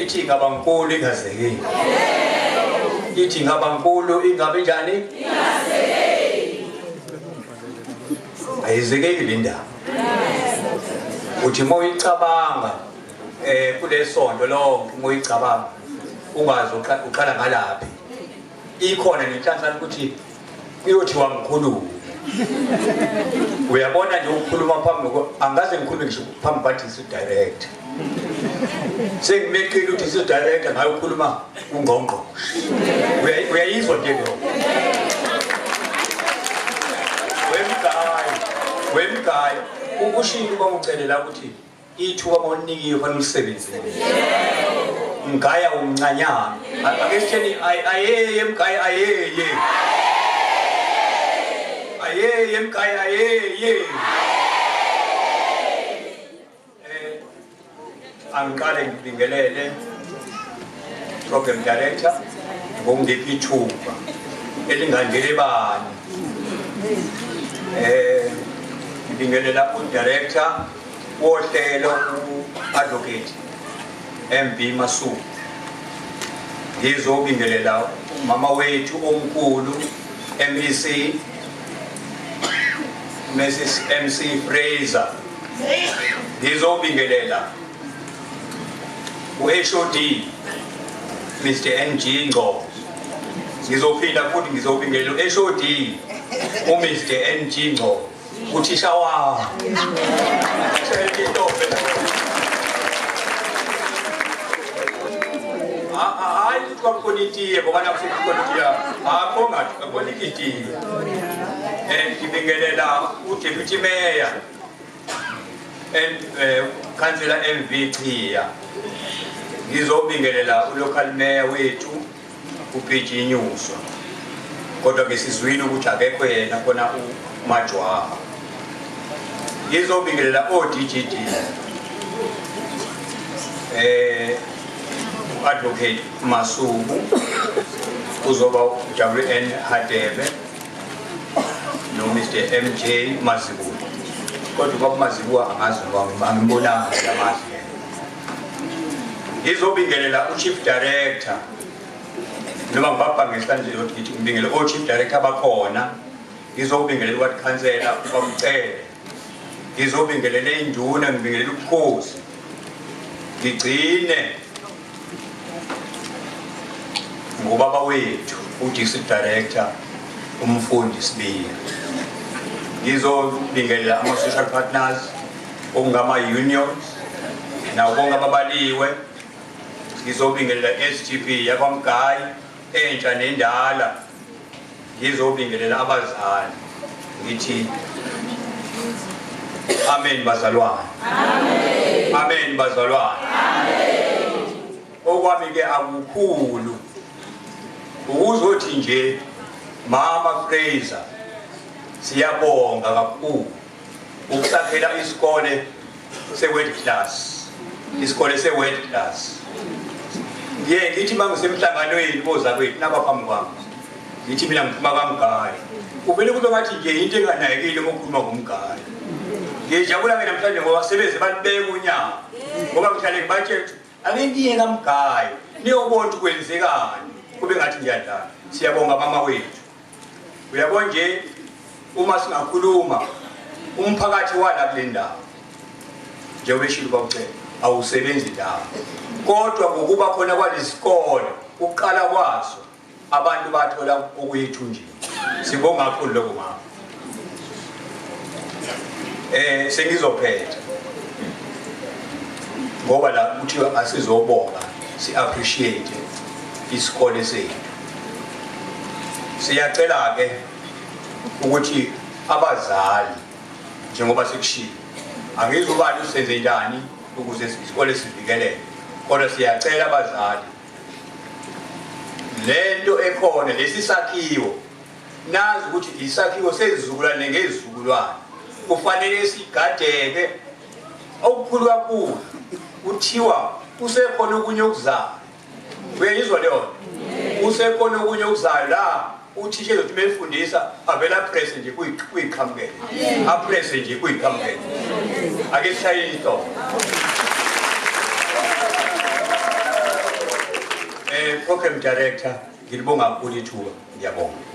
ithi ingaba nkulu ingazekeli ithi ingaba nkulu ingabe njani ayizekeli le ndaba uthi uma uyicabanga um kulesonto lonke uma uyicabanga ungazi uqala ngalaphi ikhona nenhlanhla ukuthi kuyothiwa ngikhulume uyabona nje ukukhuluma phambi angaze ngikhulume ngisho phambi kwathi isidirector sengimeqile ukuthi isidirector ngayo ukhuluma ungqongqo uyayizwa nje leyo wemgayo wemgayo ukushintsha uba ucelela ukuthi ithuba bonikiwe fanele ulisebenzise mgaya umncanyana ake sitheni ayeye mgaya ayeye ayeye mgaya ayeye eh angiqale ngibingelele program director ngongiphi ithuba elingandele bani eh ngibingelela udirector wohlelo u-advocate mb masuku ngizobingelela umama wethu omkhulu mec mrs mc fraser ngizobingelela u-hod mr ng ngco ngizophinda futhi ngizobingelela u-hod umr ng ngco uthisha wawo hayi ukuthi kwakukhona itiye ngoba nakusuke kukhona itiya akho ngathi kwakukhona itiye and ngibingelela udeputy mayor and eh, councillor MV Chiya ngizobingelela ulocal mayor wethu kuphijinyuswa kodwa ke sizwile ukuthi akekho yena kona umajwaha ngizobingelela o-dgd eh advocate Masuku uzoba uWN Hadebe no Mr MJ Mazibuko kodwa kwakumazibuko angazi ngoba angibonanga lamazi ngizobingelela uchief director noma ngibabha ngehlanje yokuthi ngithi ngibingele ochief director bakhona ngizobingelela uward councillor ubamcele ngizobingelela induna ngibingelela ubukhosi ngigcine ngubaba wethu udistrict director umfundi sibiya ngizobingelela ama-social partners okungama-union nabo bonke ababaliwe ngizobingelela i-sgp yakwamgayi entsha nendala ngizobingelela abazali ngithi amen bazalwane amen bazalwane okwami-ke akukhulu ukuzothi nje mama fraser siyabonga kakhulu ukusakhela isikole se-world class isikole se-world class ye ngithi uma ngisemhlanganweni kozakwethu naba phambi kwami ngithi mina ngiphuma kamgayi kuvele kube ngathi nje into enganayekile uma ukhuluma ngomgayi ngijabula ke namhlanje ngoba sebeze balibeka unyawo ngoba ngihlale ngibatshela ukuthi ake ngiye kamgayi niyobona ukuthi kwenzekani kube ngathi ngiyadlala siyabonga mama wethu uyabo nje uma singakhuluma umphakathi wala kule ndawo njengoba eshilo bakucela awusebenzi ndawo kodwa ngokuba khona kwalezikole ukuqala kwazo abantu bathola okuyithunjini sibonga kakhulu lokho mama eh sengizophetha ngoba la kuthiwa asizobonga si appreciate isikole sethu Siyacela-ke ukuthi abazali njengoba sekushilo angizubani usenze njani ukuze isikole sivikeleke kodwa siyacela abazali le nto ekhona lesi sakhiwo nazi ukuthi isakhiwo sezizukulwane ngezizukulwane kufanele sigadeke okukhulu kakhulu kuthiwa kusekhona okunye okuzama uyayizwa leyo usekhona okunye okuzayo la uthisha ezothi befundisa avele aprese nje kuyiqhamukele aprese nje kuyiqhamukele ake sishaye ihloko um program director ngilibonga kakhulu ithuba ngiyabonga